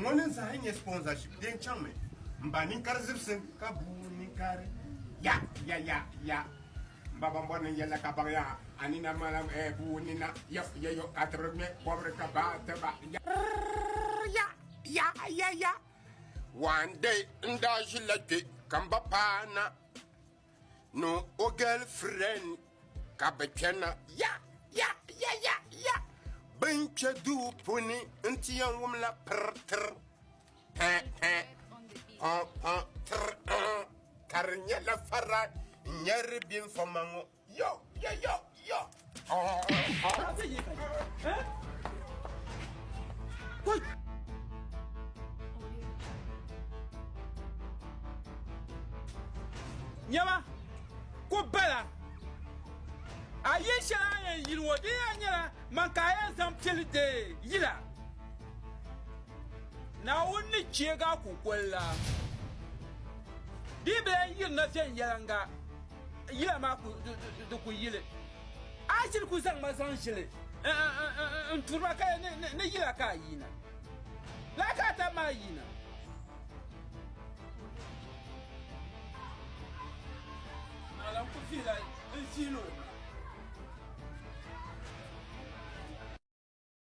Ŋɔ ni zahi nyɛ sponsorship dee chaŋ mi m ba ninkari zibsim ka buu ninkari ya ya ya ya m ba ban bɔri ni yɛlla ka baŋ ya a nina malam eh buu nina yɔ ya yɔ ka tibiri ŋmɛ kɔbiri ka ba ti ba ya ya ya ya ya one day n daa ʒi la kpe ka m ba paana ni o girlfriend ka bɛ kpɛna ya ya ya ya ya bin kpɛ duu puuni n ti yɛn wum la pir tir pɛ pɛ pɔ pɔ tir ɔɔ ka di nyɛla fara n nyɛri bini fɔ ma ŋɔ yo yo yo. Nyɛma ku bala a yi shɛli a yɛn yili ŋɔ di yɛn nyɛla man ka a yɛn zaŋ piɛli deei yila Naawuni ni cheeg a kukoli la di bela yirina viɛnyɛliŋga Yila maa ku di ku yili. Aachili ku zaŋ ma zaŋ ʒili n turi ma ka ni yila ka a yina. Laa ka a tam maa yina. Malam ku vihila n viili o.